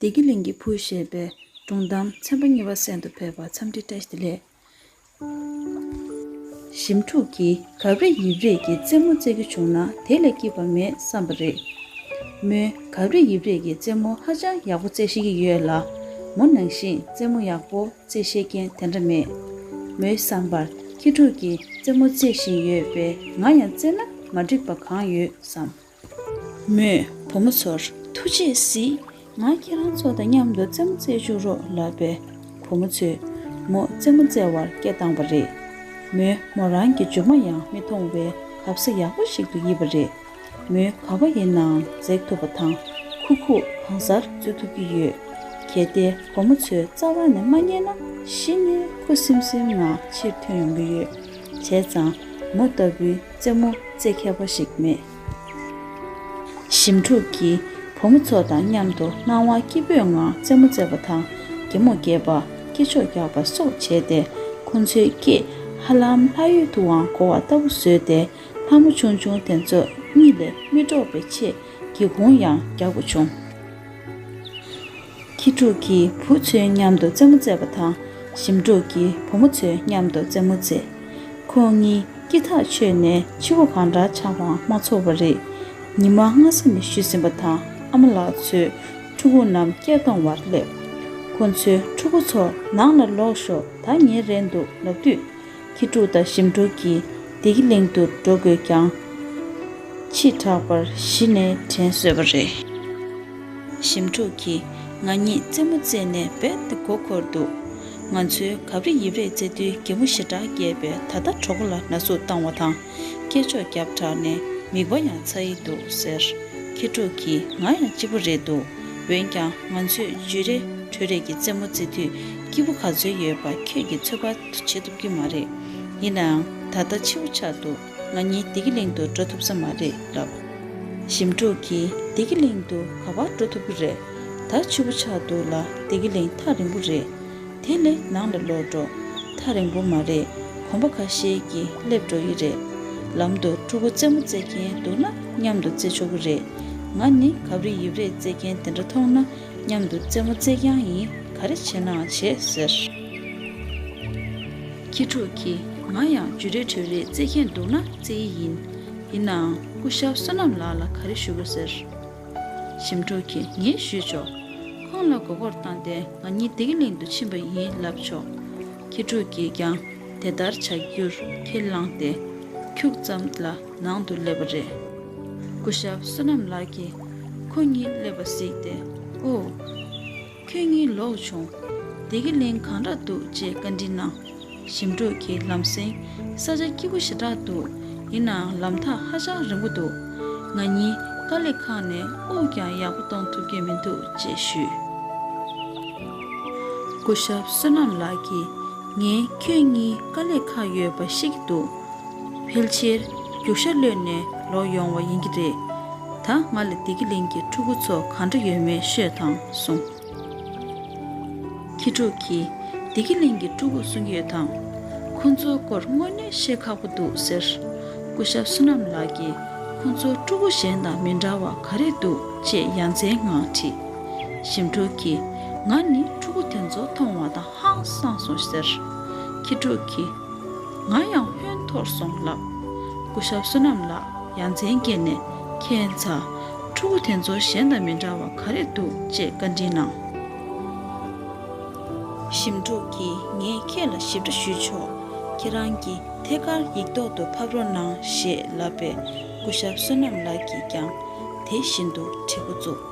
བདེ་སྐྱིད་གླིང་གི་བུ་ཞེས་པའི་སྒྲུང་གཏམ་ཚན་པ་གཉིས་པ་གསན་དུ་ཕེབས་པར་འཚམས་འདྲི་བཀྲ་ལན། ཞིབ་འཁྲུག་གིས་གབ་རེ་ཡིབ་རེས་ཀྱི་རྩེད་མོ་རྩེ་རྒྱུ་བྱུང་ན་དེ་ལས་སྐྱིད་པ་མེད་བསམ་པ་རེད། མོས་གབ་རེ་ཡིབ་རེས་ཀྱི་རྩེད་མོ་ཧ་ཅང་ཡག་པོ་རྩེ་ཤེས་ཀྱི་ཡོད་ལ། མོ་ནང་བཞིན་རྩེད་མོ་ཡག་པོ་རྩེ་ཤེས་མཁན་དེ་འདྲ་མེད། མོའི་བསམ་པར་ཁྱི་ཕྲུག་གིས་རྩེད་མོ་རྩེ་བཞིན་ཡོད་པས་ང་ཡང་རྩེ་ན་མ་འགྲིག་པ་གང་ཡོད་བསམས། མོས་བུ་མོ་ཚོར་ཐུགས་རྗེས་གཟིགས། ང་ཁྱེད་རང་ཚོ་དང་མཉམ་དུ་རྩེད་མོ་རྩེ་བཅུག་རོགས་ལབ་པས། བུ་མོ་ཚོས་མོ་རྩེད་མོ་རྩེ་བར་སྐད་བཏང་བ་རེད། མོས་མོ་རང་གི་ཇོ་མོ་ཡང་མི་མཐོང་བའི་གབ་ས་ཡག་པོ་ཞིག་ཏུ་ཡིབ་པ་རེད། མོས་ག་བ་ཡིན་ནའང་འཛེགས་ཐུབ་པ་དང་ཁུག་ཁུག་གང་སར་འཛུལ་ཐུབ་ཀྱི་ཡོད། གལ་ཏེ་བུ་མོ་ཚོའི་རྩ་བ་ནས་མ་ཉན་ན་གཞི་ནས་ཁུ་སིམ་སིམ་ངང་ཕྱིར་ཐོན་ཡོང་གི་ཡོད། བྱས་ཙང་མོ་ལྟ་བུའི། རྩེད་མོ་རྩེད་མཁས་པ་ཞིག་མེད། ཞིམ་ཕྲུག་གིས་བུ་མོ་ཚོ་དང་མཉམ་དུ་སྣང་བ་སྐྱིད་པོའི་ངང་རྩེད་མོ་རྩེ་བ་དང་གད་མོ་རྒྱས་པ་སྐེ་ཕྱོགས་རྒྱག་པ་སོགས་བྱས་ཏེ་ཁོ་ཚོའི་སྐེ་ཧ་ལམ་ལྷ་ཡུལ་དུའང་གོ་བ་ལྟ་བུ་བཟོས་ཏེ་ལྷ་མོ་ཆུང་ཆུང་དེ་ཚོ་གཉིད་ལས་མི་དཀྲོགས་པའི་ཆེད་སྒེའུ་ཁུང་ཡང་རྒྱག་དགོས་བྱུང། ཁྱི་ཕྲུག་གིས་བུ་ཚོའི་མཉམ་དུ་རྩེད་མོ་རྩེ་བ་དང་ཞིམ་ཕྲུག་གིས་བུ་མོ་ཚོའི་མཉམ་དུ་རྩེད་མོ་རྩེ། ཁོང་གཉིས་སྐྱིད་ཐག་ཆོད་ནས་ཕྱི་བ་གང་འདྲ་ཆགས་པའང་མ་ཚོར་བ་རེད། ཉི་མ་སྔ་ས་ནས་བཞུད་ཟིན་པ་དང་ཨ་མ་ལགས་ཚོས་ཕྲུ་གུ་རྣམས་སྐྱེལ་གཏོང་བར་སླེབས། ཁོ་ཚོས་ཕྲུ་གུ་ཚོ་ནང་ལ་ལོག་ཤོག་ད་ཉལ་རན་འདུག་ལབ་དུས། ཁྱི་ཕྲུག་དང་ཞིམ་ཕྲུག་གིས་བདེ་སྐྱིད་གླིང་དུ་འགྲོ་དགོས་ཀྱང། ཕྱིས་དྲགས་པར་གཞི་ནས་དྲན་སོས་པ་རེད། ཞིམ་ཕྲུག་གིས་ང་གཉིས་རྩེད་མོ་རྩེས་ནས་རྦད་དེ་མགོ་འཁོར་འདུག་ང་ཚོའི་གབ་རི་ཡིབ་རེས་རྩེ་དུས་རྒན་མོ་ཞེ་དྲག་སྐྱེས་པས་ད་ལྟ་གྲོགས་པོ་ལ་ན་ཟུག་བཏང་བ་དང་སྐད་ཅོག་རྒྱབ་དྲགས་ནས་མིག་པ་ཡང་ཚ་ཡི་འདུག་ཟེར། ཁྱི་ཕྲུག་གིས་ང་ཡང་སྐྱིད་པོ་རེད་འདུག་འོན་ཀྱང་ང་ཚོས་བརྗོད་རེས་གྲོས་རེས་ཀྱིས་རྩེད་མོ་རྩེ་དུས་སྐྱིད་པོ་ག་ཚོད་ཡོད་པ་ཁྱོད་ཀྱིས་ཚོད་དཔག་ཐུབ་བྱེད་ཐུབ་ཀྱི་མ་རེད། ཡིན་ནའང་ད་ལྟ་འཕྱིའུ་ཆགས་འདུག། ང་གཉིས་བདེ་སྐྱིད་གླིང་དུ་འགྲོ་ཐུབ་ས་མ་རེད་ལབ། ཞིམ་ཕྲུག་གིས་བདེ་སྐྱིད་གླིང་དུ་ག་བར་འགྲོ་ཐུབ་ཀྱི་རེད། ད་ཆུ་བོ་ཆགས་འདུག་ལ་བདེ་སྐྱིད་གླིང་ཐག་རིང་པོ་རེད། དེ་ལས་ནང་ལ་ལོག་འགྲོ། ཐག་རིང་པོ་མ་རེད་གོམ་པ་ཁ་ཤས་ཀྱིས་སླེབས་འགྲོ་ཡི་རེད། ལམ་དུ་ཕྲུ་གུ་རྩེད་མོ་རྩེ་མཁན་འདུག་ན་མཉམ་དུ་རྩེ་ཆོག་གི་རེད། ང་ནི་གབ་རི་ཡིབ་རེ་རྩེ་མཁན་དེ་འདྲ་མཐོང་ན་མཉམ་དུ་རྩེད་མོ་རྩེ་རྐྱང་ཡིན་ག་རེ་བྱེད་ནའང་བྱེད་ཟེར། ཁྱི་ཕྲུག་གིས་ང་ཡང་ཇུ་རེ་གྲོལ་རེ་རྩེད་ཁན་འདུག་ན་རྩེ་ཡི་ཡིན། ཡིན་ནའང་སྐུ་ཞབས་བསོད་ནམས་ལགས་ལ་ག་རེ་ཞུ་རོ་ཟེར། ཞིམ་ཕྲུག་གིས་ངས་ཞུས་ཆོག། ཁོང་ལ་མགོ་སྐོར་བཏང་སྟེ་ང་གཉིས་བདེ་གླིང་དུ་ཕྱིན་པ་ཡིན་ལབ་ཆོག། ཁྱི་ཕྲུག་གིས་ཀྱང་དེ་ལྟར་བྱ་རྒྱུར་ཁས་བླངས་ཏེ། ཁྱུག་ཙམ་ལ་ནང་དུ་སླེབས་པ་རེད། སྐུ་ཞབས་བསོད་ནམས་ལགས་ཀྱིས་ཁོ་གཉིས་སླེབས་པ་གཟིགས་ཏེ། ཨོ། ཁྱོད་གཉིས་ལོག་བྱུང། སྡེ་དགེ་གླིང་གང་འདྲ་འདུག་ཅེས་བཀའ་འདྲི་གནང། ཞིམ་འབྲོག་གིས་ལམ་སེང། ས་ཆ་སྐྱིད་པོ་ཞེ་དྲག་འདུག་ཡིན་ནའང་ལམ་ཐག་ཧ་ཅང་རིང་པོ་འདུག་ང་གཉིས་དཀའ་ལས་ཁག་ནས་དབུགས་ཀྱང་ཡག་པོ་གཏོང་ཐུབ་ཀྱི་མི་འདུག་ཅེས་ཞུས། སྐུ་ཞབས་བསོད་ནམས་ལགས་ཀྱིས། ངས་ཁྱོད་གཉིས་དཀའ་ལས་ཁག་ཡོད་པ་ཤེས་ཀྱི་འདུག། ཕལ་ཆེར་རྒྱུག་ཤ་གློད་ནས་ལོག་ཡོང་བ་ཡིན་གྱི་རེད། ད་ང་ལ་བདེ་སྐྱིད་གླིང་གི་ཕྲུ་གུ་ཚོ་ག་འདྲ་ཡོད་མེད་ཤོད་དང་གསུང། ཁྱི་ཕྲུག་གིས་བདེ་སྐྱིད་གླིང་གི་ཕྲུ་གུ་གསུམ་ཡོད་དང། ཁོ་ཚོའི་སྐོར་དངོས་གནས་བཤད་ཁག་པོ་འདུག་ཟེར། སྐུ་ཞབས་བསོད་ནམས་ལགས་ཀྱིས་ཁོ་ཚོ་ཕྲུ་གུ་གཞན་དང་མི་འདྲ་བ་ག་རེ་འདུག་ཅེས་ཡ་མཚན་ངང་དྲིས། ཞིམ་ཕྲུག་གིས་ང་ནི་ཕྲུ་གུ་དེ་ཚོ་མཐོང་བ་དང། ཧང་སངས་སོ་ཟེར། ཁྱི་ཕྲུག་གིས། ང་ཡང་ཧོན་འཐོར་སོང་ལབ། སྐུ་ཞབས་བསོད་ནམས་ལགས་ཡ་མཚན་སྐྱེས་ནས་ཁྱེད་མཚ། ཕྲུ་གུ་དེ་ཚོ་གཞན་དང་མི་འདྲ་བ་ག་རེ་འདུག་ཅེས་བཀའ་དྲིན་གནང། ཞིམ་ཕྲུག་གིས་ངས་ཁྱེད་ལ་ཞིབ་ཕྲ་ཞུས་ཆོག་ཁྱེད་རང་གི་ཐད་ཀར་ཡིག་ཐོག་ཏུ་ཕབ་རོགས་གནང་ཞེས་ལབ་པས་སྐུ་ཞབས་བསོད་ནམས་ལགས་ཀྱིས་ཀྱང་དེ་བཞིན་དུ་བྲིས་འགོ་བཙུགས།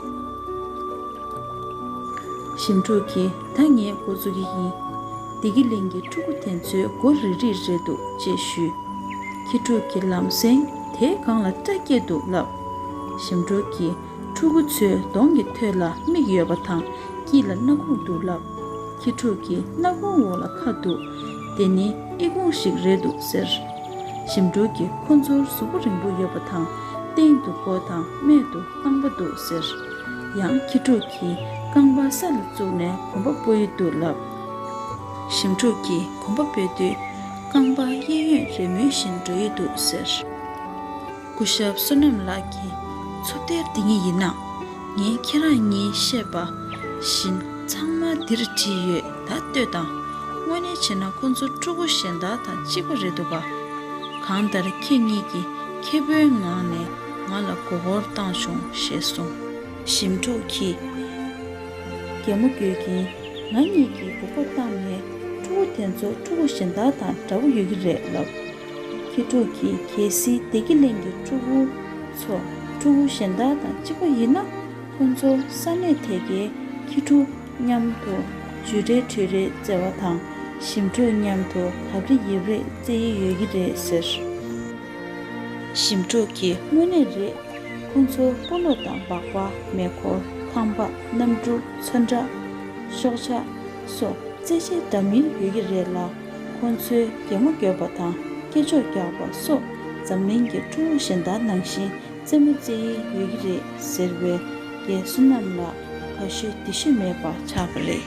ཞིམ་འཁྲུག་གི་ད་ངས་འགོ་བཙུགས་ཀྱི་ཡིན། བདེ་སྐྱིད་གླིང་གི་ཕྲུ་གུ་དེ་ཚོའི་མགོ་རིལ་རིལ་རེད་འདུག་ཅེས་ཞུས། ཁྱི་ཕྲུག་གི་ལམ་སེང་དེའི་སྒང་ལ་སྐྲ་སྐྱེས་འདུག་ལབ། ཞིམ་འཁྲུག་གི་ཕྲུ་གུ་ཚོའི་གདོང་གི་ཐོད་ལ་མིག་ཡོད་པ་དང་དཀྱིལ་ལ་སྣ་ཁུང་འདུག་ལབ། ཁྱི་ཕྲུག་གི་སྣ་ཁུང་འོག་ལ་ཁ་འདུག་དེ་ནི་ཨི་ཁུང་ཞིག་རེད་འདུག་ཟེར། ཞིམ་འཁྲུག་གི་ཁོ་ཚོར་གཟུགས་པོ་རིང་པོ་ཡོད་པ་དང་སྟེང་དུ་མགོ་དང་སྨད་དུ། རྐང་པ་འདུག་ཟེར། ཡང་ཁྱི་ཕྲུག་གིས་རྐང་པ་ས་ལ་བཙུགས་ནས་གོམ་པ་སྤོ་ཡི་འདུག་ལབ། ཞིམ་ཕྲུག་གིས་གོམ་པ་སྤོས་དུས། རྐང་པ་གཡས་གཡོན་རེ་མོས་བཞིན་འགྲོ་ཡི་འདུག་ཟེར། སྐུ་ཞབས་བསོད་ནམས་ལགས་ཀྱིས། ཚུར་བལྟས་འདི་གཉིས་ཡིན་ན། ངས་ཁྱེད་རང་གཉིས་བཤད་པ་བཞིན་ཚང་མ་འདིར་བྲིས་ཡོད་ད་ལྟོས་དང། དངོས་གནས་བྱས་ན་ཁོ་ཚོ་ཕྲུ་གུ་གཞན་དག་དང་གཅིག་པ་རེད་འདུག་ག། གང་ལྟར་ཁྱེད་གཉིས་ཀྱིས་མཁས་པོའི་ངང་ནས། ང་ལ་མགོ་བོར་བཏང་བྱུང་ཞེས་གསུངས། ཞིམ་ཕྲུག་གིས། རྒྱལ་མོ་འགྱོད་ཀྱིན། ང་གཉིས་ཀྱིས་མགོ་བོར་བཏང་ནས་ཕྲུ་གུ་དེ་ཚོ་ཕྲུ་གུ་གཞན་དག་དང་འདྲ་བོ་ཡོད་ཀྱི་རེད་ལབ། ཁྱི་ཕྲུག་གིས་གལ་སྲིད་བདེ་སྐྱིད་གླིང་གི་ཕྲུ་གུ་ཚོ་ཕྲུ་གུ་གཞན་དག་དང་གཅིག་པ་ཡིན་ན། ཁོ་ཚོ་ས་གནས་དེ་གའི་ཁྱི་ཕྲུག་མཉམ་དུ་ཇུས་རེ་དྲུས་རེ་རྩེ་བ་དང་ཞིམ་ཕྲུག་མཉམ་དུ་གབ་རེ་ཡིབ་རེ་རྩེ་ཡི་ཡོད་ཀྱི་རེད་ཟེར། ཞིམ་འཕྲོག་གི་དངོས་གནས་རེད། ཁོང་ཚོ་སྤོ་ལོ་དང་སྦག་སྦག་མེ་འཁོར་ཁང་པ་གནམ་གྲུ་ཚོན་ཁྲ། ཤོག་བྱ། སོགས་རྩེད་ཆས་འདྲ་མིན་ཡོད་ཀྱི་རེད་ལ། ཁོང་ཚོའི་གད་མོ་བསྐྱོད་པ་དང་སྐེ་འཇོག་རྒྱག་པ་སོགས་འཛམ་གླིང་གི་ཁྲོ་བོ་གཞན་དག་ནང་བཞིན་རྩེད་མོ་རྩེ་ཡི་ཡོད་ཀྱི་རེད་ཟེར་བའི་རྒས་གསོ་རྣམས་ལ་དགའ་ཤོས་སྡིག་ཤོས་མེད་པ་ཆགས་པ་རེད།